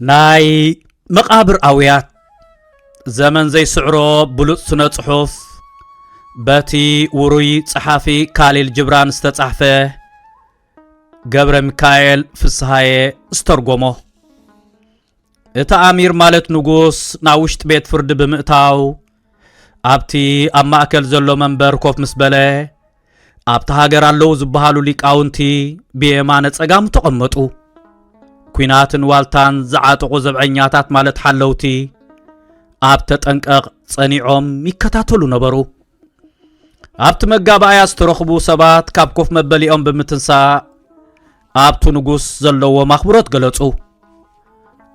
ናይ መቓብር ኣውያት ዘመን ዘይስዕሮ ብሉጽ ስነ ጽሑፍ በቲ ውሩይ ጸሓፊ ካሊል ጅብራን ዝተጻሕፈ ገብረ ሚካኤል ፍስሃየ ዝተርጎሞ እቲ ኣሚር ማለት ንጉስ ናብ ውሽጢ ቤት ፍርዲ ብምእታው ኣብቲ ኣብ ማእከል ዘሎ መንበር ኮፍ ምስ በለ ኣብቲ ሃገር ኣለዉ ዝበሃሉ ሊቃውንቲ ብየማነ ጸጋሙ ተቐመጡ ኲናትን ዋልታን ዝዓጠቑ ዘብዐኛታት ማለት ሓለውቲ ኣብ ተጠንቀቕ ጸኒዖም ይከታተሉ ነበሩ ኣብቲ መጋባእያ ዝተረኽቡ ሰባት ካብ ኮፍ መበሊኦም ብምትንሳእ ኣብቲ ንጉስ ዘለዎም ኣኽብሮት ገለጹ።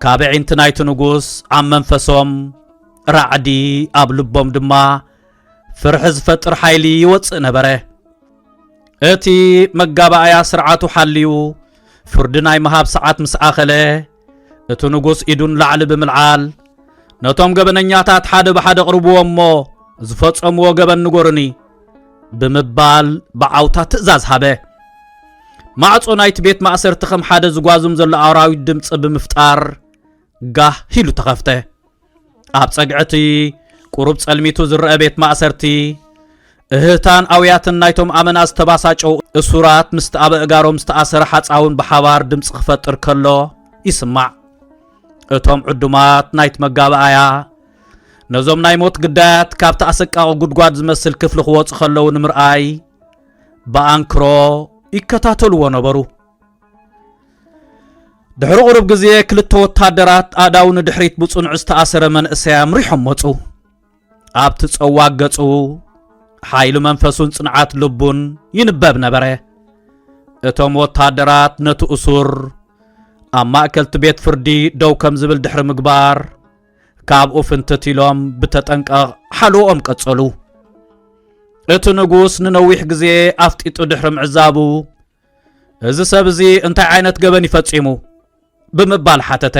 ካብ ኣዒንቲ ናይቲ ንጉስ ኣብ መንፈሶም ራዕዲ፣ ኣብ ልቦም ድማ ፍርሒ ዝፈጥር ሓይሊ ይወጽእ ነበረ። እቲ መጋባእያ ስርዓቱ ሓልዩ ፍርዲ ናይ ምሃብ ሰዓት ምስ ኣኸለ እቲ ንጉስ ኢዱ ንላዕሊ ብምልዓል ነቶም ገበነኛታት ሓደ ብሓደ ቅርብዎ እሞ ዝፈጸምዎ ገበን ንጎርኒ ብምባል ብዓውታ ትእዛዝ ሃበ ማዕጾ ናይቲ ቤት ማእሰርቲ ከም ሓደ ዝጓዝም ዘሎ ኣራዊት ድምፂ ብምፍጣር ጋህ ኢሉ ተኸፍተ ኣብ ጸግዕቲ ቁሩብ ጸልሚቱ ዝረአ ቤት ማእሰርቲ እህታን ኣውያትን ናይቶም ኣመና ዝተባሳጨው እሱራት ምስቲ ኣብ እእጋሮም ዝተኣሰረ ሓፃውን ብሓባር ድምፂ ክፈጥር ከሎ ይስማዕ እቶም ዕዱማት ናይቲ መጋባኣያ ነዞም ናይ ሞት ግዳያት ካብቲ ኣሰቃቂ ጉድጓድ ዝመስል ክፍሊ ክወፁ ከለዉ ንምርኣይ ብኣንክሮ ይከታተልዎ ነበሩ ድሕሪ ቁሩብ ግዜ ክልተ ወታደራት ኣእዳው ንድሕሪት ብጽኑዕ ዝተኣሰረ መንእሰይ ኣምሪሖም መጹ ኣብቲ ጸዋግ ገጹ ሓይሊ መንፈሱን ጽንዓት ልቡን ይንበብ ነበረ እቶም ወታደራት ነቲ እሱር ኣብ ማእከልቲ ቤት ፍርዲ ደው ከም ዝብል ድሕሪ ምግባር ካብኡ ፍንትት ኢሎም ብተጠንቀቕ ሓልኦም ቀጸሉ እቲ ንጉስ ንነዊሕ ግዜ ኣፍጢጡ ድሕሪ ምዕዛቡ እዚ ሰብ እዚ እንታይ ዓይነት ገበን ይፈጺሙ ብምባል ሓተተ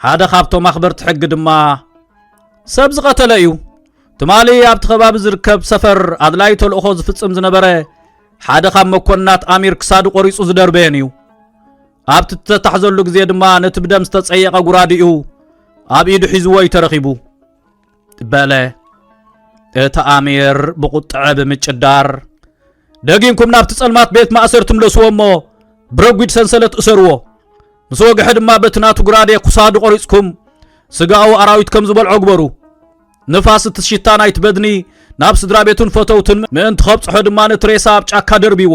ሓደ ካብቶም ኣኽበርቲ ሕጊ ድማ ሰብ ዝቐተለ እዩ ትማሊ ኣብቲ ከባቢ ዝርከብ ሰፈር ኣድላይ ተልእኾ ዝፍጽም ዝነበረ ሓደ ካብ መኮንናት ኣሚር ክሳዱ ቆሪጹ ዝደርበየን እዩ ኣብቲ እተታሕዘሉ ግዜ ድማ ነቲ ብደም ዝተጸየቐ ጉራዲኡ ኣብ ኢዱ ሒዝዎ እዩ ተረኺቡ በለ። እቲ ኣሚር ብቝጥዐ ብምጭዳር ደጊምኩም ናብቲ ጸልማት ቤት ማእሰርቲ ምለስዎ እሞ ብረጒድ ሰንሰለት እሰርዎ ምስ ወግሐ ድማ በቲ ናቱ ጉራዴ ኩሳዱ ቆሪጽኩም ስጋኡ ኣራዊት ከም ዝበልዖ ግበሩ ንፋስ እቲ ሽታ ናይቲ በድኒ ናብ ስድራ ቤቱን ፈተውትን ምእንቲ ከብጽሖ ድማ ነቲ ሬሳ ኣብ ጫካ ደርብዎ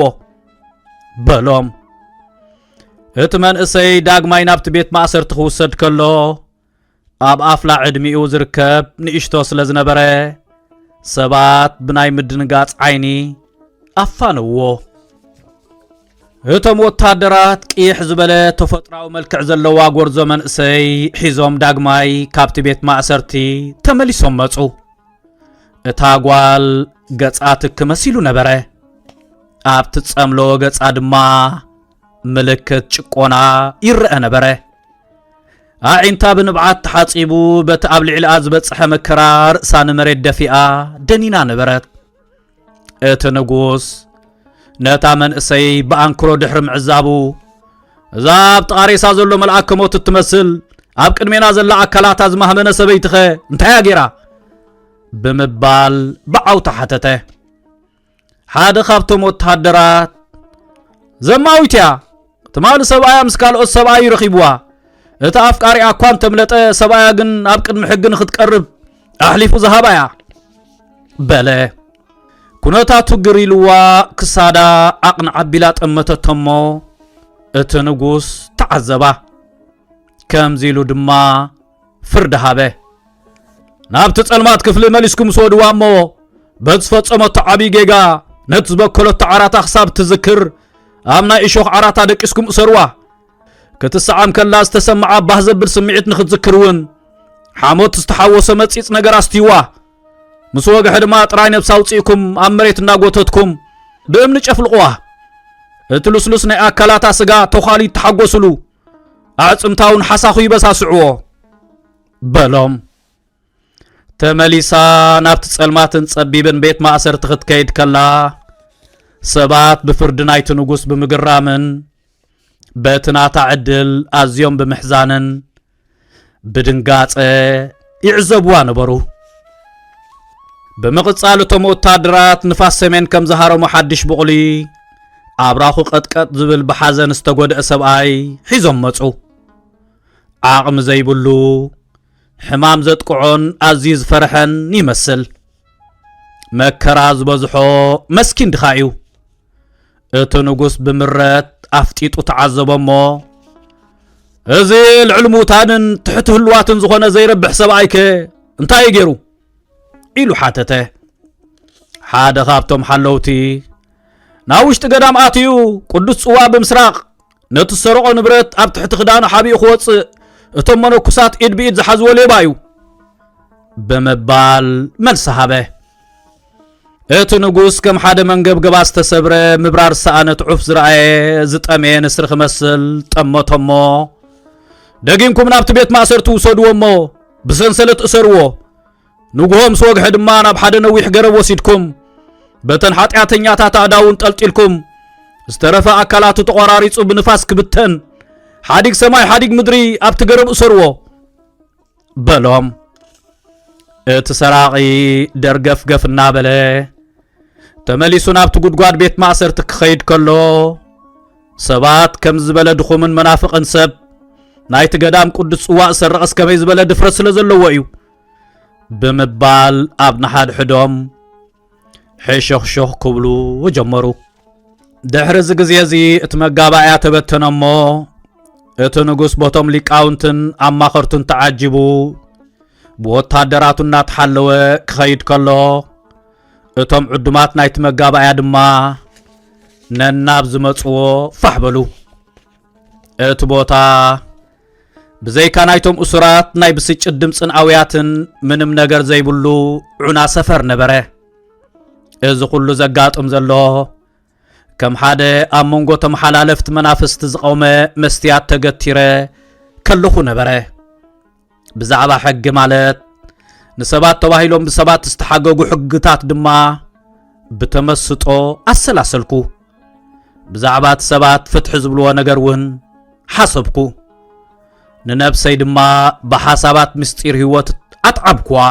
በሎም እቲ መንእሰይ ዳግማይ ናብቲ ቤት ማእሰርቲ ክውሰድ ከሎ ኣብ ኣፍላ ዕድሚኡ ዝርከብ ንእሽቶ ስለ ዝነበረ ሰባት ብናይ ምድንጋጽ ዓይኒ ኣፋነዎ። እቶም ወታደራት ቅይሕ ዝበለ ተፈጥራዊ መልክዕ ዘለዋ ጎርዞ መንእሰይ ሒዞም ዳግማይ ካብቲ ቤት ማእሰርቲ ተመሊሶም መጹ። እታ ጓል ገጻ ትክ መሲሉ ነበረ። ኣብ ትጸምሎ ገጻ ድማ ምልክት ጭቆና ይረአ ነበረ። ኣዒንታ ብንብዓት ተሓጺቡ በቲ ኣብ ልዕሊኣ ዝበጽሐ መከራ ርእሳ ንመሬት ደፊኣ ደኒና ነበረት እቲ ንጉስ ነታ መንእሰይ ብኣንክሮ ድሕሪ ምዕዛቡ እዛ ኣብ ጥቓሬሳ ዘሎ መልኣክ ከሞት እትመስል ኣብ ቅድሜና ዘላ ኣካላታ ዝማህመነ ሰበይትኸ እንታይያ ገይራ ብምባል ብዓውታ ሓተተ ሓደ ካብቶም ወተሃደራት ዘማዊት እያ ትማሊ ሰብኣያ ምስ ካልኦት ሰብኣዩ ረኺብዋ እቲ ኣፍቃሪኣ እኳ እንተምለጠ ሰብኣያ ግን ኣብ ቅድሚ ሕጊ ንክትቀርብ ኣሕሊፉ ዝሃባ እያ በለ ኩነታቱ ግር ኢልዋ ክሳዳ ዓቕን ዓቢላ ጠመተቶ እሞ እቲ ንጉስ ተዓዘባ ከምዚ ኢሉ ድማ ፍርዲ ሃበ። ናብቲ ጸልማት ክፍሊ መሊስኩም ስወድዋ እሞ በቲ ዝፈጸመቶ ዓብዪ ጌጋ ነቲ ዝበከለቶ ዓራታ ክሳብ እትዝክር ኣብ ናይ እሾኽ ዓራታ ደቂስኩም እሰርዋ ክትሰዓም ከላ ዝተሰምዓ ባህ ዘብል ስምዒት ንክትዝክር እውን ሓሞት ዝተሓወሶ መጺጽ ነገር ኣስትይዋ ምስ ወግሐ ድማ ጥራይ ነብሲ ኣውፅእኩም ኣብ መሬት እናጎተትኩም ብእምኒ ጨፍልቕዋ እቲ ልስሉስ ናይ ኣካላታ ስጋ ተዃሊ ተሓጎስሉ ኣዕፅምታውን ሓሳኹ ይበሳስዕዎ በሎም ተመሊሳ ናብቲ ጸልማትን ጸቢብን ቤት ማእሰርቲ ክትከይድ ከላ ሰባት ብፍርዲ ናይቲ ንጉስ ብምግራምን በቲ ናታ ዕድል ኣዝዮም ብምሕዛንን ብድንጋጸ ይዕዘብዋ ነበሩ። ብምቕጻል እቶም ወታደራት ንፋስ ሰሜን ከም ዝሃረሙ ሓድሽ ብቑሊ ኣብራኹ ቀጥቀጥ ዝብል ብሓዘን ዝተጎድአ ሰብኣይ ሒዞም መጹ። ዓቕሚ ዘይብሉ ሕማም ዘጥቅዖን ኣዝዩ ዝፈርሐን ይመስል። መከራ ዝበዝሖ መስኪን ድኻ እዩ። እቲ ንጉስ ብምረት ኣፍጢጡ ተዓዘቦ እሞ እዚ ልዕሊ ምውታንን ትሕቲ ህልዋትን ዝኾነ ዘይረብሕ ሰብኣይከ እንታይ እዩ ገይሩ ኢሉ ሓተተ ሓደ ካብቶም ሓለውቲ ናብ ውሽጢ ገዳም ኣትዩ ቅዱስ ጽዋ ብምስራቕ ነቲ ዝሰረቖ ንብረት ኣብ ትሕቲ ክዳኑ ሓቢኡ ክወፅእ እቶም መነኩሳት ኢድ ብኢድ ዝሓዝዎ ሌባ እዩ ብምባል መልሲ ሃበ እቲ ንጉስ ከም ሓደ መንገብገባ ዝተሰብረ ምብራር ሰኣነት ዑፍ ዝረኣየ ዝጠመየ ንስሪ ክመስል ጠመቶሞ ደጊምኩም ናብቲ ቤት ማእሰርቲ ውሰድዎ እሞ ብሰንሰለት እሰርዎ ንግሆ ምስ ወግሐ ድማ ናብ ሓደ ነዊሕ ገረብ ወሲድኩም በተን ሓጢኣተኛታት ኣእዳውን ጠልጢልኩም ዝተረፈ ኣካላቱ ተቖራሪጹ ብንፋስ ክብተን ሓዲግ ሰማይ ሓዲግ ምድሪ ኣብቲ ገረብ እሰርዎ በሎም እቲ ሰራቒ ደርገፍገፍ እናበለ ተመሊሱ ናብቲ ጉድጓድ ቤት ማእሰርቲ ክኸይድ ከሎ ሰባት ከም ዝበለ ድኹምን መናፍቕን ሰብ ናይቲ ገዳም ቅዱስ ጽዋእ ዝሰርቐስ ከመይ ዝበለ ድፍረት ስለ ዘለዎ እዩ ብምባል ኣብ ንሓድሕዶም ሕሾኽሾኽ ክብሉ ጀመሩ ድሕሪ እዚ ግዜ እዚ እቲ መጋባእያ ተበተነ እሞ እቲ ንጉስ ቦቶም ሊቃውንትን ኣማኸርቱን ተዓጂቡ ብወታደራቱ እናተሓለወ ክኸይድ ከሎ እቶም ዕዱማት ናይቲ መጋባእያ ድማ ነናብ ዝመፅዎ ፋሕ በሉ እቲ ቦታ ብዘይካ ናይቶም እሱራት ናይ ብስጭት ድምፅን ኣውያትን ምንም ነገር ዘይብሉ ዑና ሰፈር ነበረ እዚ ኩሉ ዘጋጥም ዘሎ ከም ሓደ ኣብ መንጎ ተመሓላለፍቲ መናፍስቲ ዝቐውመ መስትያት ተገቲረ ከለኹ ነበረ ብዛዕባ ሕጊ ማለት ንሰባት ተባሂሎም ብሰባት ዝተሓገጉ ሕግታት ድማ ብተመስጦ ኣሰላሰልኩ። ብዛዕባ እቲ ሰባት ፍትሒ ዝብልዎ ነገር እውን ሓሰብኩ። ንነብሰይ ድማ ብሓሳባት ምስጢር ህይወት ኣትዓብኩዋ።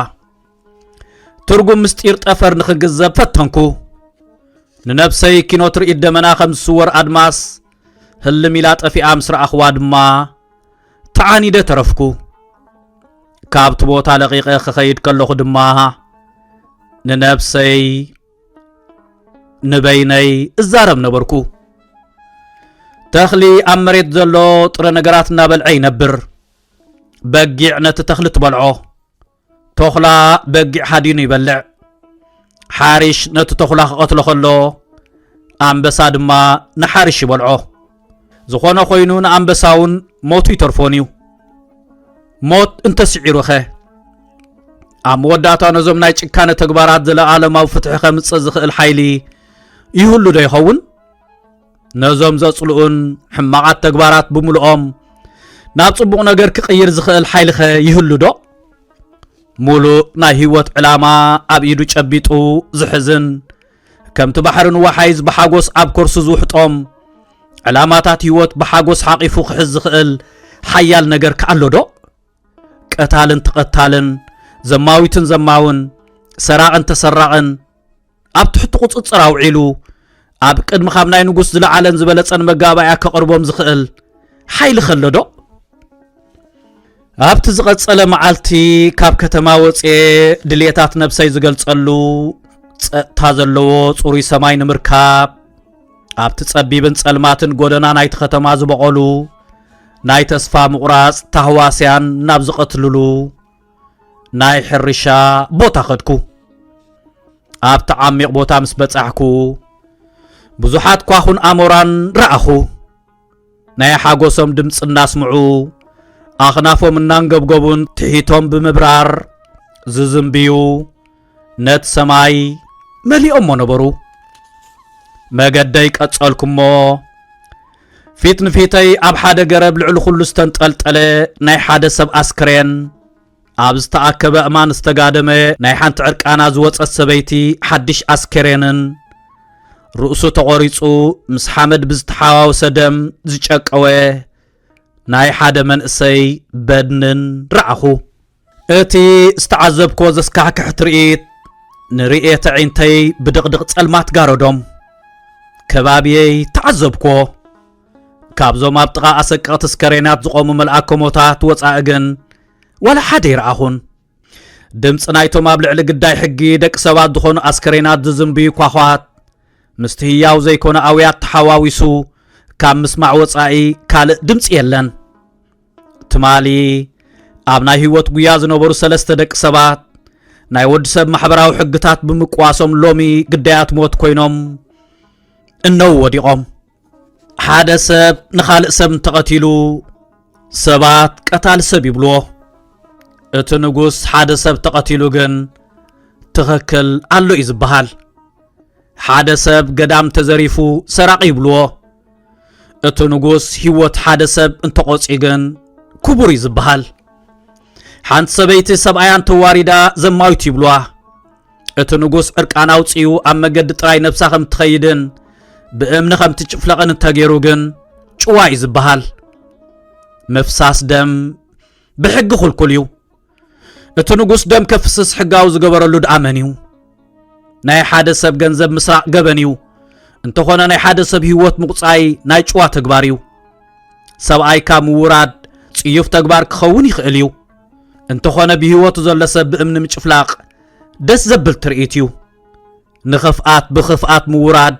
ትርጉም ምስጢር ጠፈር ንኽግዘብ ፈተንኩ። ንነብሰይ ኪኖ ትርኢት ደመና ከም ዝስወር ኣድማስ ህልም ኢላ ጠፊኣ ምስ ረኣኽዋ ድማ ተዓኒደ ተረፍኩ። ካብቲ ቦታ ለቒቐ ክኸይድ ከለኹ ድማ ንነብሰይ ንበይነይ እዛረብ ነበርኩ። ተኽሊ ኣብ መሬት ዘሎ ጥረ ነገራት እናበልዐ ይነብር። በጊዕ ነቲ ተኽሊ ትበልዖ። ተኹላ በጊዕ ሃዲኑ ይበልዕ ሓሪሽ ነቲ ተኹላ ክቐትሎ ከሎ ኣንበሳ ድማ ንሓሪሽ ይበልዖ ዝኾነ ኮይኑ ንኣንበሳ እውን ሞቱ ይተርፎን እዩ ሞት እንተስዒሩ ኸ ኣብ መወዳእታ ነዞም ናይ ጭካነ ተግባራት ዘለዓለማዊ ፍትሒ ከምፅእ ዝኽእል ሓይሊ ይህሉ ዶ ይኸውን ነዞም ዘጽልኡን ሕማቓት ተግባራት ብምልኦም ናብ ጽቡቕ ነገር ክቕይር ዝኽእል ሓይልኸ ይህሉ ዶ ሙሉእ ናይ ህይወት ዕላማ ኣብ ኢዱ ጨቢጡ ዝሕዝን ከምቲ ባሕሪ ንወሓይዝ ብሓጎስ ኣብ ኮርሱ ዝውሕጦም ዕላማታት ህይወት ብሓጎስ ሓቂፉ ክሕዝ ዝኽእል ሓያል ነገር ከኣሎ ዶ ቀታልን ተቐታልን ዘማዊትን ዘማውን ሰራቕን ተሰራቕን ኣብ ትሕቲ ቁጽጽር ኣውዒሉ ኣብ ቅድሚ ካብ ናይ ንጉስ ዝለዓለን ዝበለጸን መጋባእያ ከቕርቦም ዝኽእል ሓይሊ ከሎዶ ኣብቲ ዝቐጸለ መዓልቲ ካብ ከተማ ወፅኤ ድልየታት ነብሰይ ዝገልጸሉ ጸጥታ ዘለዎ ጽሩይ ሰማይ ንምርካብ ኣብቲ ጸቢብን ጸልማትን ጎደና ናይቲ ከተማ ዝበቐሉ ናይ ተስፋ ምቑራጽ ታህዋስያን ናብ ዝቐትልሉ ናይ ሕርሻ ቦታ ኸድኩ ኣብቲ ዓሚቕ ቦታ ምስ በጻሕኩ ብዙሓት ኳኹን ኣሞራን ረኣኹ ናይ ሓጎሶም ድምፂ እናስምዑ ኣኽናፎም እናንገብገቡን ትሒቶም ብምብራር ዝዝንብዩ ነቲ ሰማይ መሊኦሞ ነበሩ መገደይ ቀጸልኩሞ ፊት ንፊተይ ኣብ ሓደ ገረብ ልዕሊ ኩሉ ዝተንጠልጠለ ናይ ሓደ ሰብ ኣስክሬን ኣብ ዝተኣከበ እማን ዝተጋደመ ናይ ሓንቲ ዕርቃና ዝወፀት ሰበይቲ ሓድሽ ኣስከሬንን ርእሱ ተቖሪጹ ምስ ሓመድ ብዝተሓዋወሰ ደም ዝጨቀወ ናይ ሓደ መንእሰይ በድንን ረኣኹ እቲ ዝተዓዘብክዎ ዘስካሕክሕ ትርኢት ንርእየት ኣዒንተይ ብድቕድቕ ጸልማት ጋረዶም ከባብየይ ተዓዘብክዎ ካብዞም ኣብ ጥቓ ኣሰቀቕቲ ስከሬናት ዝቖሙ መልኣከሞታት ወፃኢ ግን ዋላ ሓደ ይረኣኹን ድምፂ ናይቶም ኣብ ልዕሊ ግዳይ ሕጊ ደቂ ሰባት ዝኾኑ ኣስከሬናት ዝዝንብዩ ኳኳት ምስቲ ህያው ዘይኮነ ኣውያት ተሓዋዊሱ ካብ ምስማዕ ወፃኢ ካልእ ድምፂ የለን ትማሊ ኣብ ናይ ህይወት ጉያ ዝነበሩ ሰለስተ ደቂ ሰባት ናይ ወዲ ሰብ ማሕበራዊ ሕግታት ብምቅዋሶም ሎሚ ግዳያት ሞት ኮይኖም እነው ወዲቖም ሓደ ሰብ ንኻልእ ሰብ እንተቐቲሉ ሰባት ቀታል ሰብ ይብልዎ እቲ ንጉስ ሓደ ሰብ ተቐቲሉ ግን ትኽክል ኣሎ እዩ ዝበሃል ሓደ ሰብ ገዳም ተዘሪፉ ሰራቂ ይብልዎ እቲ ንጉስ ህይወት ሓደ ሰብ እንተቖፅዩ ግን ክቡር እዩ ዝበሃል ሓንቲ ሰበይቲ ሰብኣያ እንተዋሪዳ ዘማዊት ይብሏ እቲ ንጉስ ዕርቃን ኣውፅኡ ኣብ መገዲ ጥራይ ነብሳ ከም እትኸይድን ብእምኒ ከም እትጭፍለቕን እንተገይሩ ግን ጭዋ እዩ ዝበሃል ምፍሳስ ደም ብሕጊ ኹልኩል እዩ እቲ ንጉስ ደም ከፍስስ ሕጋዊ ዝገበረሉ ድኣ መን እዩ ናይ ሓደ ሰብ ገንዘብ ምስራቅ ገበን እዩ እንተኾነ ናይ ሓደ ሰብ ህይወት ምቁፃይ ናይ ጭዋ ተግባር እዩ ሰብኣይካ ምውራድ ጽዩፍ ተግባር ክኸውን ይኽእል እዩ እንተኾነ ብህይወቱ ዘሎ ሰብ ብእምኒ ምጭፍላቕ ደስ ዘብል ትርኢት እዩ ንኽፍኣት ብኽፍኣት ምውራድ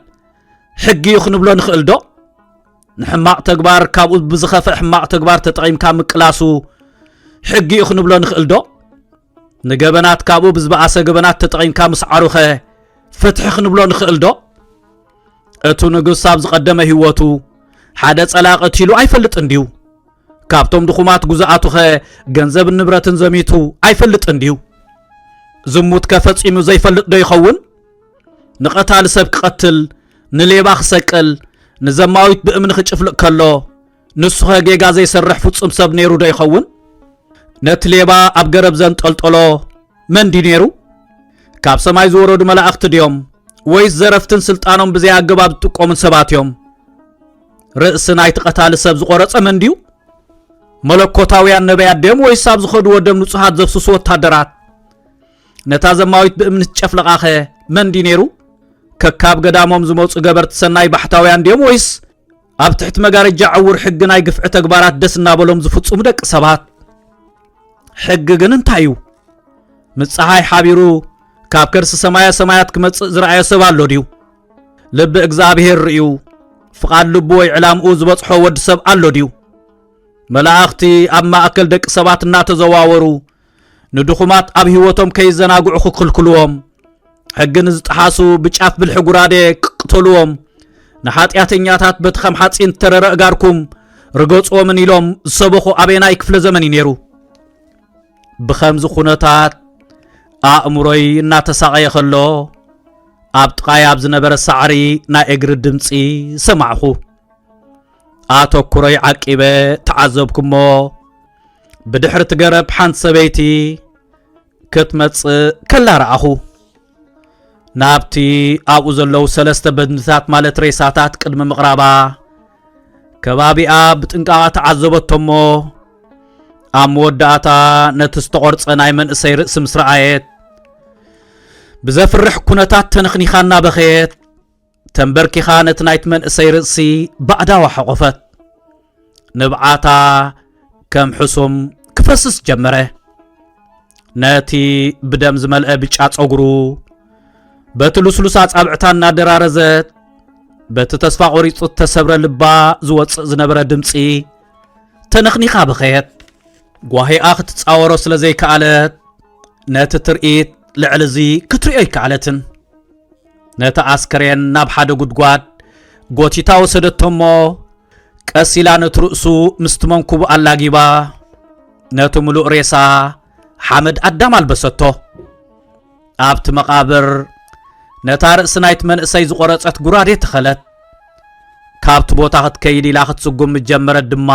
ሕጊ እዩ ክንብሎ ንኽእል ዶ ንሕማቕ ተግባር ካብኡ ብዝኸፍእ ሕማቕ ተግባር ተጠቒምካ ምቅላሱ ሕጊ እዩ ክንብሎ ንኽእልዶ ንገበናት ካብኡ ብዝበኣሰ ገበናት ተጠቒምካ ምስዓሩኸ ፍትሒ ክንብሎ ንኽእልዶ እቱ ንጉስ ኣብ ዝቐደመ ህይወቱ ሓደ ጸላእ ቀቲሉ ኣይፈልጥን ድዩ ካብቶም ድኹማት ጉዛኣቱኸ ገንዘብን ንብረትን ዘሚቱ ኣይፈልጥን ድዩ ዝሙት ከፈጺሙ ዘይፈልጥ ዶ ይኸውን ንቐታሊ ሰብ ክቐትል ንሌባ ክሰቅል ንዘማዊት ብእምኒ ክጭፍልቕ ከሎ ንሱኸ ጌጋ ዘይሰርሕ ፍጹም ሰብ ነይሩ ዶ ይኸውን? ነቲ ሌባ ኣብ ገረብ ዘንጠልጠሎ መን ድዩ ነይሩ? ካብ ሰማይ ዝወረዱ መላእኽቲ ድዮም ወይስ ዘረፍትን ስልጣኖም ብዘይኣገባብ ዝጥቀሙን ሰባት እዮም? ርእሲ ናይቲ ቀታሊ ሰብ ዝቖረጸ መን ድዩ? መለኮታውያን ነቢያት ድዮም ወይስ ኣብ ዝኸድዎ ደም ንጹሃት ዘፍስሱ ወታደራት? ነታ ዘማዊት ብእምኒ ትጨፍለቓኸ መን ድዩ ነይሩ? ከካብ ገዳሞም ዝመፁ ገበርቲ ሰናይ ባሕታውያን ድዮም ወይስ ኣብ ትሕቲ መጋረጃ ዕውር ሕጊ ናይ ግፍዒ ተግባራት ደስ እናበሎም ዝፍፅሙ ደቂ ሰባት? ሕጊ ግን እንታይ እዩ? ምስ ፀሓይ ሓቢሩ ካብ ከርሲ ሰማያ ሰማያት ክመጽእ ዝረኣዮ ሰብ ኣሎ ድዩ? ልቢ እግዚኣብሔር ርእዩ ፍቓድ ልቡ ወይ ዕላምኡ ዝበጽሖ ወዲ ሰብ ኣሎ ድዩ? መላእኽቲ ኣብ ማእከል ደቂ ሰባት እናተዘዋወሩ ንድኹማት ኣብ ህይወቶም ከይዘናግዑ ክክልክልዎም፣ ሕጊ ንዝጠሓሱ ብጫፍ ብልሒ ጉራዴ ክቅተልዎም፣ ንሓጢኣተኛታት በቲ ከም ሓፂን ዝተረረ እጋርኩም ርገፅዎምን ኢሎም ዝሰበኹ ኣበየናይ ክፍለ ዘመን እዩ ነይሩ? ብኸምዚ ኩነታት ኣእምሮይ እናተሳቐየ ከሎ ኣብ ጥቓይ ኣብ ዝነበረ ሳዕሪ ናይ እግሪ ድምፂ ሰማዕኹ። ኣተኩሮይ ዓቂበ ተዓዘብኩሞ። ብድሕሪ እቲ ገረብ ሓንቲ ሰበይቲ ክትመጽእ ከላ ረኣኹ ናብቲ ኣብኡ ዘለዉ ሰለስተ በድንታት ማለት ሬሳታት ቅድሚ ምቕራባ ከባቢኣ ብጥንቃቓ ተዓዘበቶ እሞ ኣብ መወዳእታ ነቲ ዝተቖርጸ ናይ መንእሰይ ርእሲ ምስ ረኣየት ብዘፍርሕ ኩነታት ተነኽኒኻ እናበኸየት ተንበርኪኻ ነቲ ናይቲ መንእሰይ ርእሲ ባእዳዋ ሓቖፈት ንብዓታ ከም ሕሱም ክፈስስ ጀመረ ነቲ ብደም ዝመልአ ብጫ ጸጉሩ በቲ ልስሉስ ኣጻብዕታ እናደራረዘት በቲ ተስፋ ቆሪጹ እተሰብረ ልባ ዝወጽእ ዝነበረ ድምፂ ተነኽኒኻ በኸየት ጓሂኣ ክትጻወሮ ስለ ዘይከኣለት ነቲ ትርኢት ልዕሊ እዚ ክትሪኦ ኣይከኣለትን ነቲ ኣስከሬን ናብ ሓደ ጉድጓድ ጎቲታ ወሰደቶሞ ቀስ ኢላ ነቲ ርእሱ ምስቲ መንኩቡ ኣላጊባ ነቲ ምሉእ ሬሳ ሓመድ ኣዳም ኣልበሰቶ ኣብቲ መቓብር ነታ ርእሲ ናይቲ መንእሰይ ዝቖረጸት ጉራዴ ተኸለት ካብቲ ቦታ ክትከይድ ኢላ ክትስጉም ምጀመረት ድማ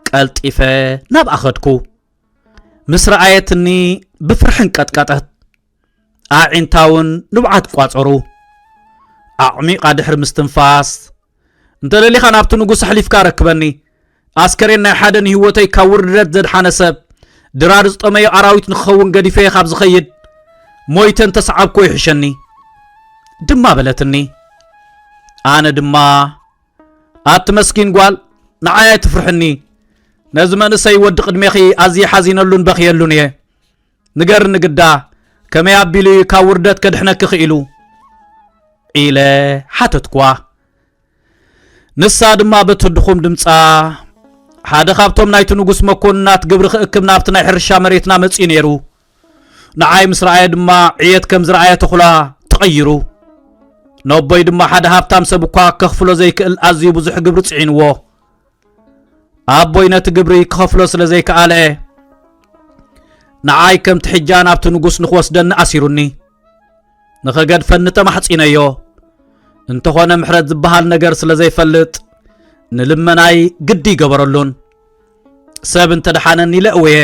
ቀልጢፈ ናብ ኣኸድኩ ምስ ረኣየትኒ ብፍርሕን ቀጥቀጠት ኣዒንታውን ንብዓት ቋጸሩ ኣዕሚቓ ድሕሪ ምስትንፋስ እንተ ደሊኻ ናብቲ ንጉስ ኣሕሊፍካ ኣረክበኒ ኣስከሬን ናይ ሓደ ንህይወተይ ካብ ውርደት ዘድሓነ ሰብ ድራር ዝጠመዮ ኣራዊት ንክኸውን ገዲፈየ ካብ ዝኸይድ ሞይተ እንተሰዓብኮ ይሕሸኒ ድማ በለትኒ ኣነ ድማ ኣቲ መስኪን ጓል ንዓይ ኣይትፍርሕኒ ነዚ መንእሰይ ወዲ ቅድሜኺ ኣዝየ ሓዚነሉን በኽየሉን እየ ንገርኒ ግዳ ከመይ ኣቢሉ እዩ ካብ ውርደት ከድሕነኪ ክኢሉ ኢለ ሓተትኳ ንሳ ድማ በቲ ድኹም ድምፃ ሓደ ካብቶም ናይቲ ንጉስ መኮንናት ግብሪ ክእክብ ናብቲ ናይ ሕርሻ መሬትና መፂኡ ነይሩ ንዓይ ምስ ረኣየ ድማ ዕየት ከም ዝረኣየ ተኹላ ተቐይሩ ነቦይ ድማ ሓደ ሃብታም ሰብ እኳ ከኽፍሎ ዘይክእል ኣዝዩ ብዙሕ ግብሪ ፅዒንዎ ኣቦይ ነቲ ግብሪ ክኸፍሎ ስለ ዘይከኣለ ንዓይ ከምቲ ሕጃ ናብቲ ንጉስ ንኽወስደኒ ኣሲሩኒ ንኸገድፈኒ ተማሕጺነዮ እንተኾነ ምሕረት ዝበሃል ነገር ስለ ዘይፈልጥ ንልመናይ ግዲ ይገበረሉን ሰብ እንተ ደሓነኒ ኢለ እውየ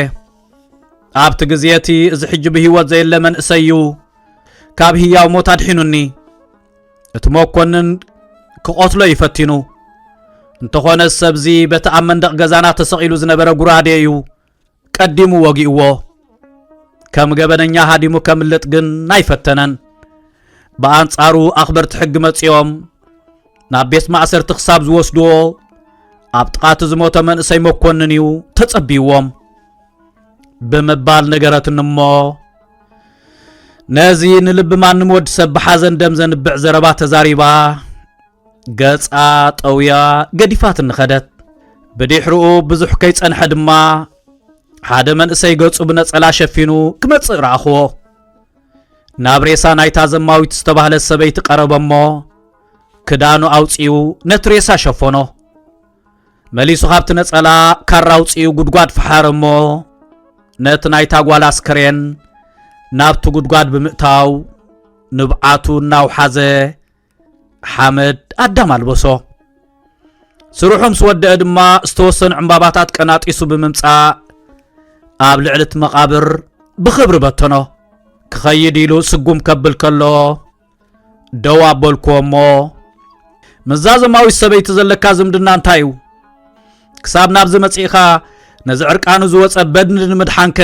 ኣብቲ ግዜ እቲ እዚ ሕጂ ብህይወት ዘየለ መንእሰይ እዩ ካብ ህያው ሞት ኣድሒኑኒ እቲ መኮንን ክቐትሎ እዩ ፈቲኑ እንተኾነ ሰብዚ በቲ ኣብ መንደቕ ገዛና ተሰቒሉ ዝነበረ ጉራዴ እዩ ቀዲሙ ወጊእዎ ከም ገበነኛ ሃዲሙ ከምልጥ ግን ኣይፈተነን ብኣንጻሩ ኣኽበርቲ ሕጊ መጺኦም ናብ ቤት ማእሰርቲ ክሳብ ዝወስድዎ ኣብ ጥቓቲ ዝሞተ መንእሰይ መኮንን እዩ ተጸብይዎም ብምባል ነገረትኒ እሞ ነዚ ንልቢ ማንም ወዲ ሰብ ብሓዘን ደም ዘንብዕ ዘረባ ተዛሪባ ገጻ ጠውያ ገዲፋት እንኸደት ብድሕርኡ ብዙሕ ከይጸንሐ ድማ ሓደ መንእሰይ ገጹ ብነጸላ ሸፊኑ ክመጽእ ረኣኽዎ ናብ ሬሳ ናይታ ዘማዊት ዝተባህለት ሰበይቲ ቀረበሞ ክዳኑ ኣውፂኡ ነቲ ሬሳ ሸፈኖ መሊሱ ካብቲ ነጸላ ካራ ኣውፅኡ ጉድጓድ ፈሓረ እሞ ነቲ ናይታ ጓል ኣስከሬን ናብቲ ጉድጓድ ብምእታው ንብዓቱ እናውሓዘ ሓመድ ኣዳም ኣልበሶ ስርሑ ምስ ወደአ ድማ ዝተወሰኑ ዕምባባታት ቀናጢሱ ብምምፃእ ኣብ ልዕሊ እቲ መቓብር ብኽብሪ በተኖ ክኸይድ ኢሉ ስጉም ከብል ከሎ ደው ኣበልኩዎ እሞ ምስዛ ዘማዊት ሰበይቲ ዘለካ ዝምድና እንታይ እዩ ክሳብ ናብዚ መጺእኻ ነዚ ዕርቃኑ ዝወፀ በድኒ ንምድሓንከ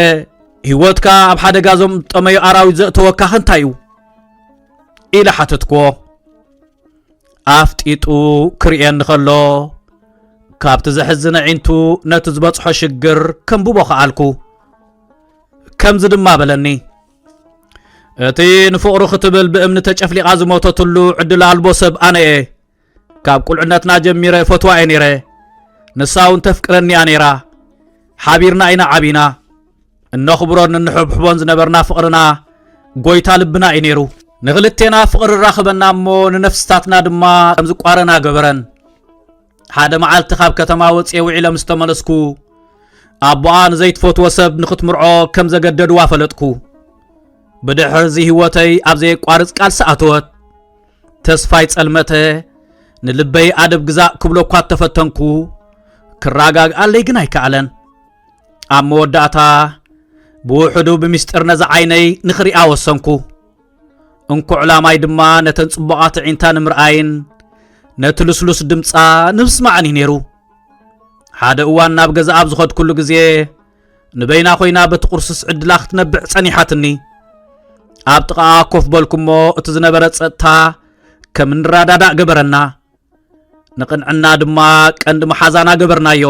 ህይወትካ ኣብ ሓደጋ ዞም ጠመዩ ኣራዊት ዘእተወካኸ እንታይ እዩ ኢለ ሓተትክዎ ኣፍጢጡ ክርእየኒ ከሎ ካብቲ ዘሕዝነ ዒንቱ ነቲ ዝበጽሖ ሽግር ከምብቦ ኸኣልኩ ከምዚ ድማ በለኒ እቲ ንፍቕሩ ክትብል ብእምኒ ተጨፍሊቓ ዝሞተትሉ ዕድል ኣልቦ ሰብ ኣነ እየ ካብ ቁልዕነትና ጀሚረ ፈትዋ እየ ነይረ ንሳ እውን ተፍቅረኒ እያ ነይራ ሓቢርና ኢና ዓቢና እነኽብሮን እንሕብሕቦን ዝነበርና ፍቕርና ጎይታ ልብና እዩ ነይሩ ንክልቴና ፍቕሪ ራኽበና እሞ ንነፍስታትና ድማ ከምዝቋረና ገበረን ሓደ መዓልቲ ካብ ከተማ ወፅየ ውዒለ ምስ ተመለስኩ ኣቦኣ ንዘይትፈትዎ ሰብ ንኽትምርዖ ከም ዘገደድዋ ፈለጥኩ ብድሕር እዚ ህይወተይ ኣብ ዘየቋርፅ ቃልሲ ኣተወት ተስፋይ ጸልመተ ንልበይ ኣደብ ግዛእ ክብሎ እኳ እተፈተንኩ ክረጋግኣለይ ግን ኣይከኣለን ኣብ መወዳእታ ብውሕዱ ብምስጢር ነዚ ዓይነይ ንኽሪኣ ወሰንኩ እንኩዕ ላማይ ድማ ነተን ጽቡቓት ኣዒንታ ንምርኣይን ነቲ ልስሉስ ድምጻ ንምስማዕን እዩ ነይሩ ሓደ እዋን ናብ ገዛ ኣብ ዝኸድኩሉ ግዜ ንበይና ኮይና በቲ ቁርስስ ዕድላ ክትነብዕ ጸኒሓትኒ ኣብ ጥቓኣ ኮፍ በልኩሞ እቲ ዝነበረ ጸጥታ ከም ንረዳዳእ ገበረና ንቕንዕና ድማ ቀንዲ መሓዛና ገበርናዮ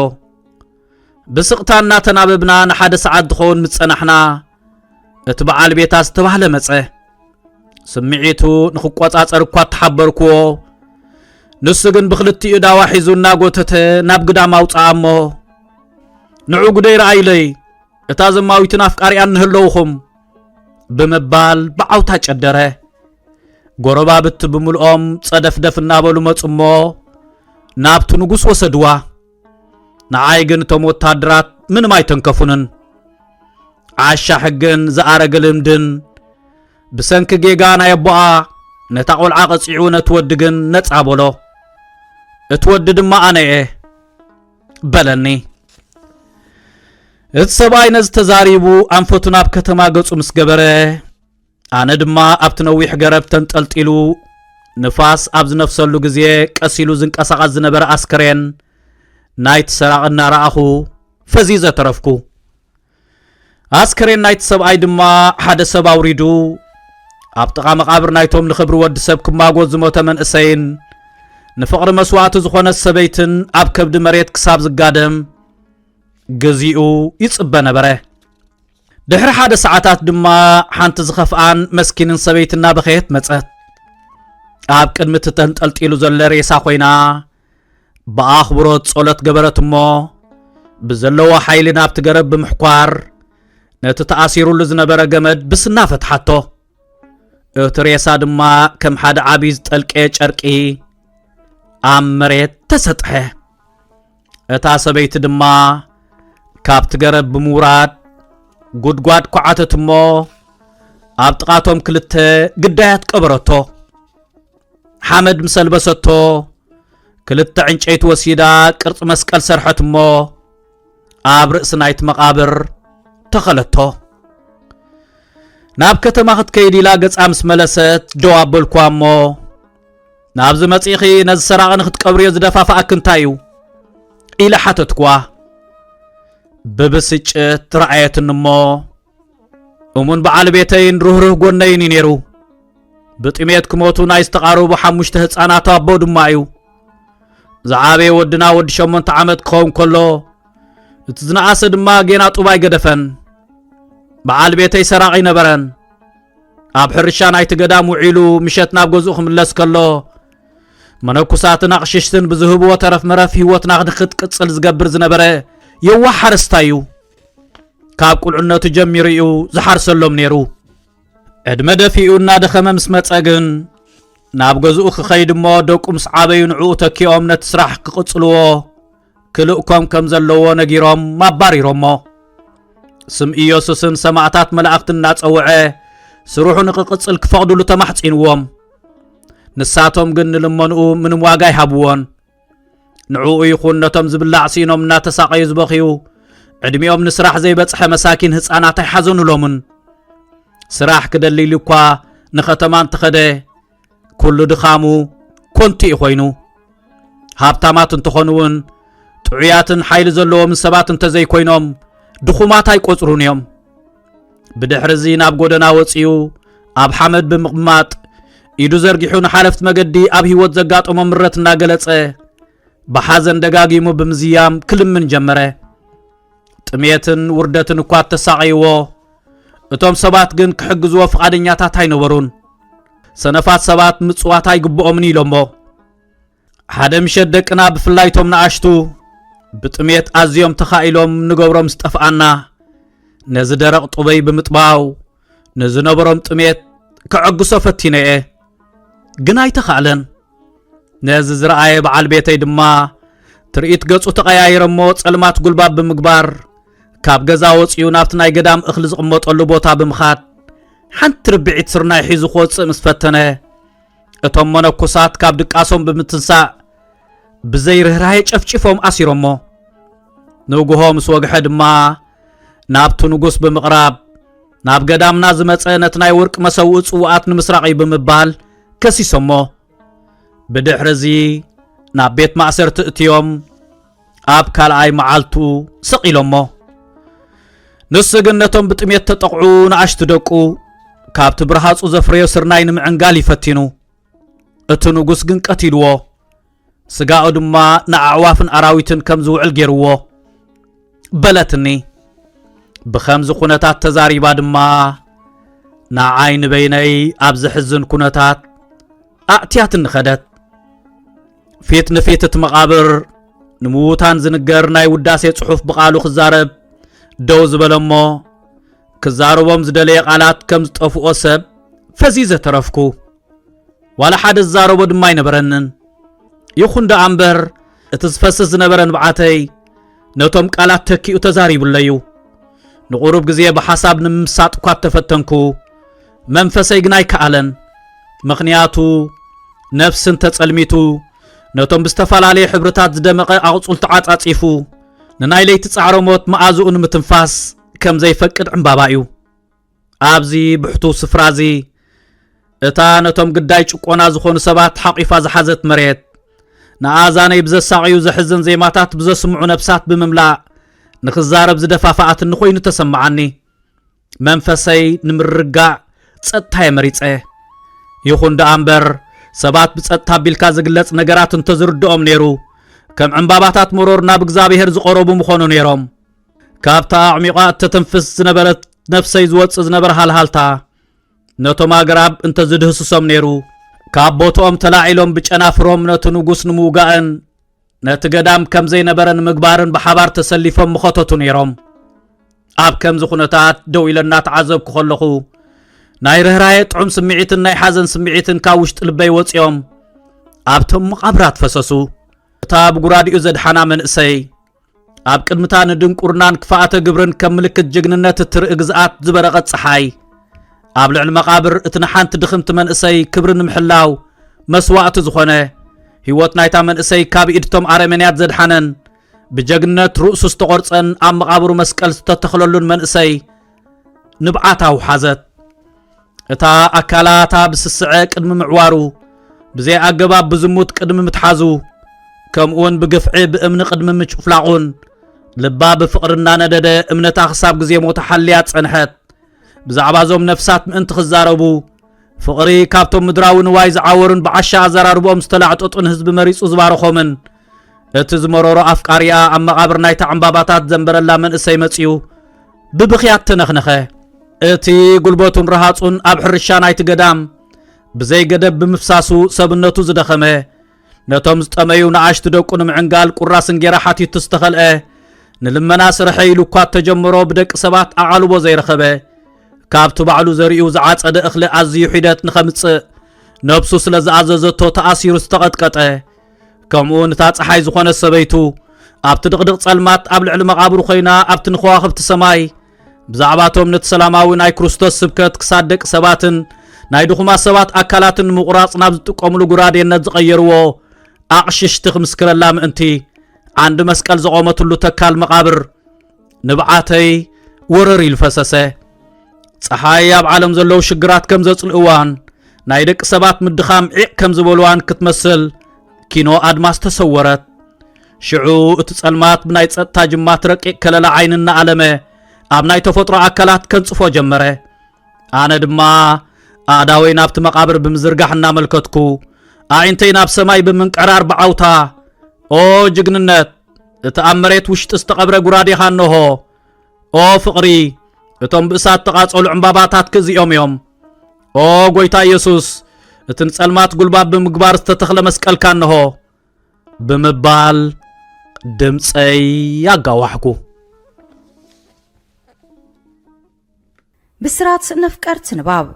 ብስቕታ እናተናበብና ንሓደ ሰዓት ዝኸውን ምስ ጸናሕና እቲ በዓል ቤታ ዝተባህለ መጸ ስምዒቱ ንኽቆጻጸር እኳ እተሓበርክዎ ንሱ ግን ብክልቲኡ ዳዋ ሒዙ እናጎተተ ናብ ግዳም ኣውፅኣ እሞ ንዑ ጉደይ ረኣይለይ እታ ዘማዊትን ኣፍቃሪኣን ንህለውኹም ብምባል ብዓውታ ጨደረ። ጎረባብቲ ብምልኦም ጸደፍደፍ እናበሉ መጹ እሞ ናብቲ ንጉስ ወሰድዋ። ንዓይ ግን እቶም ወታደራት ምንም ኣይተንከፉንን። ዓሻ ሕግን ዝኣረገ ልምድን ብሰንኪ ጌጋ ናይ ኣቦኣ ነታ ቈልዓ ቐጺዑ ነቲ ወዲ ግን ነጻ በሎ። እቲ ወዲ ድማ ኣነ እየ። በለኒ። እቲ ሰብኣይ ነዚ ተዛሪቡ ኣንፈቱ ናብ ከተማ ገጹ ምስ ገበረ ኣነ ድማ ኣብቲ ነዊሕ ገረብ ተንጠልጢሉ ንፋስ ኣብ ዝነፍሰሉ ግዜ ቀስ ኢሉ ዝንቀሳቐስ ዝነበረ ኣስከሬን ናይቲ ሰራቒ እናረኣኹ ፈዚዘ ተረፍኩ። ኣስከሬን ናይቲ ሰብኣይ ድማ ሓደ ሰብ ኣውሪዱ ኣብ ጥቓ መቓብር ናይቶም ንኽብሪ ወዲ ሰብ ክማጎት ዝሞተ መንእሰይን ንፍቕሪ መስዋእቲ ዝኾነት ሰበይትን ኣብ ከብዲ መሬት ክሳብ ዝጋደም ግዚኡ ይጽበ ነበረ። ድሕሪ ሓደ ሰዓታት ድማ ሓንቲ ዝኸፍኣን መስኪንን ሰበይቲ እናበኸየት መጸት ኣብ ቅድሚ እቲ ተንጠልጢሉ ዘሎ ሬሳ ኮይና ብኣኽብሮት ጸሎት ገበረት እሞ ብዘለዎ ሓይሊ ናብቲ ገረብ ብምሕኳር ነቲ ተኣሲሩሉ ዝነበረ ገመድ ብስና ፈትሓቶ እቲ ሬሳ ድማ ከም ሓደ ዓብዪ ዝጠልቀየ ጨርቂ ኣብ መሬት ተሰጥሐ እታ ሰበይቲ ድማ ካብቲ ገረብ ብምውራድ ጉድጓድ ኳዓተት እሞ ኣብ ጥቓቶም ክልተ ግዳያት ቀበረቶ ሓመድ ምስ ኣልበሰቶ ክልተ ዕንጨይቲ ወሲዳ ቅርጺ መስቀል ሰርሐት እሞ ኣብ ርእሲ ናይቲ መቓብር ተኸለቶ ናብ ከተማ ክትከይድ ኢላ ገጻ ምስ መለሰት ደው ኣበልኳ እሞ ናብዚ መጺኺ ነዚ ሰራቒ ንክትቀብርዮ ዝደፋፍኣክ እንታይ እዩ ኢለ ሓተትኳ ብብስጭት ረኣየትኒ እሞ እሙን በዓል ቤተይን ርህሩህ ጎነይን እዩ ነይሩ ብጥሜት ክሞቱ ናይ ዝተቓረቡ ሓሙሽተ ህፃናት ኣቦ ድማ እዩ ዝዓበየ ወድና ወዲ ሸሞንተ ዓመት ክኸውን ከሎ እቲ ዝነኣሰ ድማ ጌና ጡብ ኣይገደፈን በዓል ቤተይ ሰራቂ ነበረን ኣብ ሕርሻ ናይቲ ገዳም ውዒሉ ምሸት ናብ ገዝኡ ክምለስ ከሎ መነኩሳትን ኣቕሽሽትን ብዝህብዎ ተረፍ መረፍ ህይወትና ክንክትቅፅል ዝገብር ዝነበረ የዋህ ሓረስታይ እዩ ካብ ቁልዕነቱ ጀሚሩ እዩ ዝሓርሰሎም ነይሩ ዕድመ ደፊኡ እናደኸመ ምስ መፀ ግን ናብ ገዝኡ ክኸይድ እሞ ደቁ ምስ ዓበዩ ንዕኡ ተኪኦም ነቲ ስራሕ ክቕጽልዎ ክልእኮም ከም ዘለዎ ነጊሮም ኣባሪሮሞ ስም ኢየሱስን ሰማዕታት መላእኽቲ እናጸውዐ ስርሑ ንክቕጽል ክፈቕድሉ ተማሕጺንዎም ንሳቶም ግን ንልመንኡ ምንም ዋጋ ኣይሃብዎን ንዕኡ ይኹን ነቶም ዝብላዕ ሲኖም እናተሳቐዩ ዝበኽዩ ዕድሚኦም ንስራሕ ዘይበጽሐ መሳኪን ህፃናት ኣይሓዘኑሎምን ስራሕ ክደልይሉ እኳ ንኸተማ እንተኸደ ኩሉ ድኻሙ ኮንቱ እዩ ኮይኑ ሃብታማት እንተኾኑ እውን ጥዑያትን ሓይሊ ዘለዎም ሰባት እንተዘይኮይኖም ድኹማት ኣይቆፅሩን እዮም ብድሕርዚ ናብ ጎደና ወፂኡ ኣብ ሓመድ ብምቕማጥ ኢዱ ዘርጊሑ ንሓለፍቲ መገዲ ኣብ ህይወት ዘጋጠሞ ምረት እናገለጸ ብሓዘን ደጋጊሙ ብምዝያም ክልምን ጀመረ ጥሜትን ውርደትን እኳ እተሳቐይዎ እቶም ሰባት ግን ክሕግዝዎ ፍቓደኛታት ኣይነበሩን ሰነፋት ሰባት ምጽዋት ኣይግብኦምን ኢሎሞ ሓደ ምሸት ደቅና ብፍላይ እቶም ንኣሽቱ ብጥሜት ኣዝዮም ተኻኢሎም ንገብሮም ዝጠፍኣና ነዚ ደረቕ ጡበይ ብምጥባው ንዝነበሮም ጥሜት ከዐግሶ ፈቲነ እየ ግን ኣይተኻእለን ነዚ ዝረኣየ በዓል ቤተይ ድማ ትርኢት ገጹ ተቐያይረሞ ጸልማት ጉልባብ ብምግባር ካብ ገዛ ወፂኡ ናብቲ ናይ ገዳም እኽሊ ዝቕመጠሉ ቦታ ብምኻድ ሓንቲ ርብዒት ስርናይ ሒዙ ክወፅእ ምስ ፈተነ እቶም መነኩሳት ካብ ድቃሶም ብምትንሳእ ብዘይ ርኅራሄ ጨፍጭፎም ኣሲሮሞ ንጉሆ ምስ ወግሐ ድማ ናብቲ ንጉስ ብምቕራብ ናብ ገዳምና ዝመፀ ነቲ ናይ ወርቂ መሰውኢ ጽዋኣት ንምስራቕ እዩ ብምባል ከሲሶሞ ብድሕሪ እዚ ናብ ቤት ማእሰርቲ እትዮም ኣብ ካልኣይ መዓልቱ ስቕ ኢሎሞ ንሱ ግን ነቶም ብጥሜት ተጠቕዑ ንኣሽቱ ደቁ ካብቲ ብርሃጹ ዘፍረዮ ስርናይ ንምዕንጋል ይፈቲኑ እቲ ንጉስ ግን ቀቲልዎ ስጋኡ ድማ ንኣዕዋፍን ኣራዊትን ከም ዝውዕል ገይርዎ በለትኒ ብኸምዚ ኩነታት ተዛሪባ ድማ ንዓይ ንበይነይ ኣብ ዘሕዝን ኩነታት ኣእትያትኒ ኸደት ፊት ንፊት እቲ መቓብር ንምዉታን ዝንገር ናይ ውዳሴ ጽሑፍ ብቓሉ ክዛረብ ደው ዝበለ እሞ ክዛረቦም ዝደለየ ቓላት ከም ዝጠፍኦ ሰብ ፈዚዘ ተረፍኩ ዋላ ሓደ ዝዛረቦ ድማ ኣይነበረንን ይኹን ደኣ እምበር እቲ ዝፈስስ ዝነበረ ንብዓተይ ነቶም ቃላት ተኪኡ ተዛሪቡለዩ ንቑሩብ ግዜ ብሓሳብ ንምምሳጥ እኳ እተፈተንኩ መንፈሰይ ግን ኣይከኣለን ምኽንያቱ ነፍስን ተጸልሚቱ ነቶም ብዝተፈላለየ ሕብርታት ዝደመቐ ኣቕጹል ተዓጻጺፉ ንናይ ለይቲ ጻዕረ ሞት መኣዝኡ ንምትንፋስ ከም ዘይፈቅድ ዕምባባ እዩ ኣብዚ ብሕቱ ስፍራ እዚ እታ ነቶም ግዳይ ጭቆና ዝኾኑ ሰባት ሓቂፋ ዝሓዘት መሬት ንኣዛነይ ብዘሳቕዩ ዘሕዝን ዜማታት ብዘስምዑ ነብሳት ብምምላእ ንኽዛረብ ዝደፋፍኣትኒ ኮይኑ ተሰምዓኒ መንፈሰይ ንምርጋእ ጸጥታ የመሪጸ ይኹን ደኣ እምበር ሰባት ብጸጥታ ኣቢልካ ዝግለጽ ነገራት እንተዝርድኦም ነይሩ ከም ዕምባባታት መሮር ናብ እግዚኣብሔር ዝቐረቡ ምኾኑ ነይሮም ካብታ ኣዕሚቋ እተተንፍስ ዝነበረት ነፍሰይ ዝወፅእ ዝነበረ ሃልሃልታ ነቶም ኣግራብ እንተዝድህስሶም ነይሩ ካብ ቦትኦም ተላዒሎም ብጨናፍሮም ነቲ ንጉስ ንምውጋእን ነቲ ገዳም ከም ዘይነበረ ንምግባርን ብሓባር ተሰሊፎም ምኸተቱ ነይሮም ኣብ ከምዚ ኩነታት ደው ኢለ እናተዓዘብኩ ከለኹ ናይ ርኅራየ ጥዑም ስምዒትን ናይ ሓዘን ስምዒትን ካብ ውሽጢ ልበይ ወፂኦም ኣብቶም መቓብራት ፈሰሱ እታ ብጉራዲኡ ዘድሓና መንእሰይ ኣብ ቅድምታ ንድንቁርናን ክፋኣተ ግብርን ከም ምልክት ጅግንነት እትርኢ ግዝኣት ዝበረቐት ፀሓይ ኣብ ልዕሊ መቓብር እቲ ንሓንቲ ድኽምቲ መንእሰይ ክብሪ ንምሕላው መስዋእቲ ዝኾነ ህይወት ናይታ መንእሰይ ካብ ኢድቶም ኣረመንያት ዘድሓነን ብጀግነት ርእሱ ዝተቖርፀን ኣብ መቓብሩ መስቀል ዝተተኽለሉን መንእሰይ ንብዓት ኣውሓዘት እታ ኣካላታ ብስስዐ ቅድሚ ምዕዋሩ ብዘይ ኣገባብ ብዝሙት ቅድሚ ምትሓዙ ከምኡውን ብግፍዒ ብእምኒ ቅድሚ ምጭፍላቑን ልባ ብፍቕሪ እናነደደ እምነታ ክሳብ ግዜ ሞታ ሓልያ ጸንሐት ብዛዕባ እዞም ነፍሳት ምእንቲ ክዛረቡ ፍቕሪ ካብቶም ምድራዊ ንዋይ ዝዓወሩን ብዓሻ ኣዘራርብኦም ዝተላዕጠጡን ህዝቢ መሪጹ ዝባረኾምን እቲ ዝመረሮ ኣፍቃሪኣ ኣብ መቓብር ናይታ ዕምባባታት ዘንበረላ መንእሰይ መጺኡ ብብኽያት ተነኽነኸ። እቲ ጉልበቱን ረሃጹን ኣብ ሕርሻ ናይቲ ገዳም ብዘይ ገደብ ብምፍሳሱ ሰብነቱ ዝደኸመ ነቶም ዝጠመዩ ንኣሽቱ ደቁ ንምዕንጋል ቁራስ እንጌራ ሓቲቱ ዝተኸልአ ንልመና ስርሐ ኢሉ እኳ እተጀመሮ ብደቂ ሰባት ኣቓልቦ ዘይረኸበ ካብቲ ባዕሉ ዘሪኡ ዝዓጸደ እኽሊ ኣዝዩ ሒደት ንኸምጽእ ነብሱ ስለ ዝኣዘዘቶ ተኣሲሩ ዝተቐጥቀጠ ከምኡውን እታ ፀሓይ ዝኾነ ሰበይቱ ኣብቲ ድቕድቕ ጸልማት ኣብ ልዕሊ መቓብሩ ኮይና ኣብቲ ንኸዋኽብቲ ሰማይ ብዛዕባ እቶም ነቲ ሰላማዊ ናይ ክርስቶስ ስብከት ክሳድ ደቂ ሰባትን ናይ ድኹማት ሰባት ኣካላትን ንምቑራጽ ናብ ዝጥቀምሉ ጉራዴነት ዝቐየርዎ ኣቕሽሽቲ ክምስክረላ ምእንቲ ዓንዲ መስቀል ዘቖመትሉ ተካል መቓብር ንብዓተይ ወረር ኢሉ ፈሰሰ። ፀሓይ ኣብ ዓለም ዘለዉ ሽግራት ከም ዘጽልእዋን ናይ ደቂ ሰባት ምድኻም ዒቕ ከም ዝበልዋን ክትመስል ኪኖ ኣድማስ ተሰወረት። ሽዑ እቲ ጸልማት ብናይ ጸጥታ ጅማት ረቂቕ ከለላ ዓይኒ እናኣለመ ኣብ ናይ ተፈጥሮ ኣካላት ከንጽፎ ጀመረ ኣነ ድማ ኣእዳወይ ናብቲ መቓብር ብምዝርጋሕ እናመልከትኩ ኣዒንተይ ናብ ሰማይ ብምንቅዕራር ብዓውታ ኦ ጅግንነት እቲ ኣብ መሬት ውሽጢ ዝተቐብረ ጉራዴኻ እንሆ ኦ ፍቕሪ እቶም ብእሳት ተቓጸሉ ዕምባባታት ክእዚኦም እዮም ኦ ጎይታ ኢየሱስ እቲ ንጸልማት ጉልባብ ብምግባር ዝተተኽለ መስቀልካ እንሆ ብምባል ድምፀይ ኣጋዋሕኩ። ብስራት ነፍቀርቲ ንባብ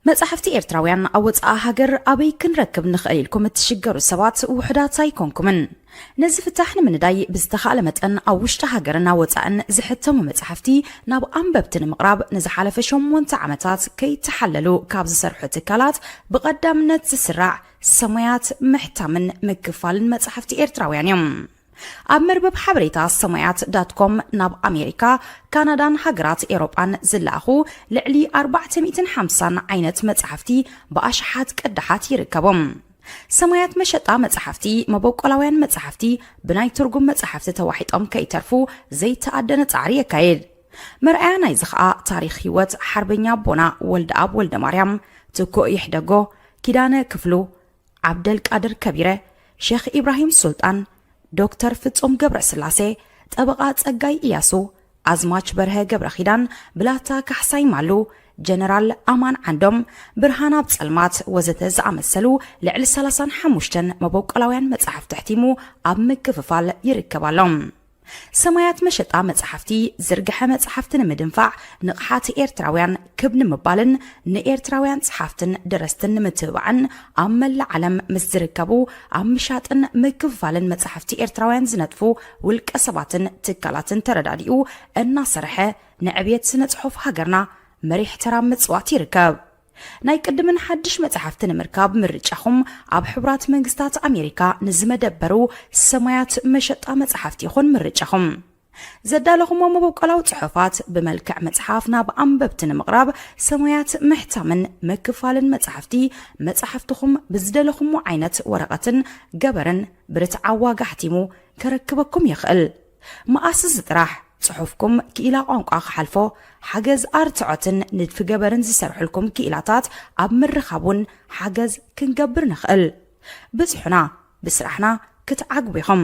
መጻሕፍቲ ኤርትራውያን ኣብ ወጻኢ ሃገር ኣበይ ክንረክብ ንኽእል ኢልኩም እትሽገሩ ሰባት ውሑዳት ኣይኮንኩምን ነዚ ፍታሕ ንምንዳይ ብዝተኻእለ መጠን ኣብ ውሽጢ ሃገርን ኣብ ወጻእን ዝሕተሙ መጻሕፍቲ ናብ ኣንበብቲ ንምቕራብ ንዝሓለፈ ሸሞንተ ዓመታት ከይተሓለሉ ካብ ዝሰርሑ ትካላት ብቐዳምነት ዝስራዕ ሰማያት ምሕታምን ምክፋልን መጻሕፍቲ ኤርትራውያን እዮም። ኣብ መርበብ ሓበሬታ ሰማያት ዳት ኮም ናብ ኣሜሪካ፣ ካናዳን ሃገራት ኤውሮጳን ዝለኣኹ ልዕሊ ኣርባዕተ ሚእትን ሓምሳን ዓይነት መጻሕፍቲ ብኣሽሓት ቅዳሓት ይርከቦም። ሰማያት መሸጣ መጻሕፍቲ፣ መበቆላውያን መጻሕፍቲ ብናይ ትርጉም መጻሕፍቲ ተዋሒጦም ከይተርፉ ዘይተኣደነ ጻዕሪ የካይድ። መርኣያ ናይዚ ከኣ ታሪኽ ህይወት ሓርበኛ ኣቦና ወልደኣብ ወልደማርያም፣ ትኩእ ይሕደጎ፣ ኪዳነ ክፍሉ፣ ዓብደልቃድር ከቢረ፣ ሼኽ ኢብራሂም ሱልጣን፣ ዶክተር ፍጹም ገብረስላሴ፣ ጠበቓ ጸጋይ ኢያሱ፣ ኣዝማች በርሀ ገብረኺዳን፣ ብላታ ካሕሳይ ማሉ፣ ጀነራል ኣማን ዓንዶም፣ ብርሃን ኣብ ጸልማት ወዘተ ዝኣመሰሉ ልዕሊ ሰላሳን ሓሙሽተን መበቆላውያን መጻሕፍቲ ኣሕቲሙ ኣብ ምክፍፋል ይርከብ ኣሎ። ሰማያት መሸጣ መጽሓፍቲ ዝርግሐ መጽሓፍቲ ንምድንፋዕ ንቕሓት ኤርትራውያን ክብ ንምባልን ንኤርትራውያን ጸሓፍትን ደረስትን ንምትብባዕን ኣብ መላእ ዓለም ምስ ዝርከቡ ኣብ ምሻጥን ምክፍፋልን መጽሓፍቲ ኤርትራውያን ዝነጥፉ ውልቀ ሰባትን ትካላትን ተረዳዲኡ እናሰርሐ ንዕብየት ስነ ጽሑፍ ሃገርና መሪሕ ተራ ምጽዋት ይርከብ። ናይ ቅድምን ሓድሽ መጻሕፍቲ ንምርካብ ምርጫኹም ኣብ ሕቡራት መንግስታት ኣሜሪካ ንዝመደበሩ ሰማያት መሸጣ መጻሕፍቲ ይኹን ምርጫኹም። ዘዳለኹሞ መበቆላዊ ጽሑፋት ብመልክዕ መጽሓፍ ናብ ኣንበብቲ ንምቕራብ ሰማያት ምሕታምን ምክፋልን መጻሕፍቲ መጻሕፍትኹም ብዝደለኹሞ ዓይነት ወረቐትን ገበርን ብርትዓዊ ዋጋ ኣሕቲሙ ከረክበኩም ይኽእል። መኣስስ ጥራሕ ጽሑፍኩም ክኢላ ቋንቋ ክሓልፎ፣ ሓገዝ ኣርትዖትን ንድፊ ገበርን ዝሰርሑልኩም ክኢላታት ኣብ ምርኻብ ውን ሓገዝ ክንገብር ንኽእል። ብጽሑና፣ ብስራሕና ክትዓግቡ ኢኹም።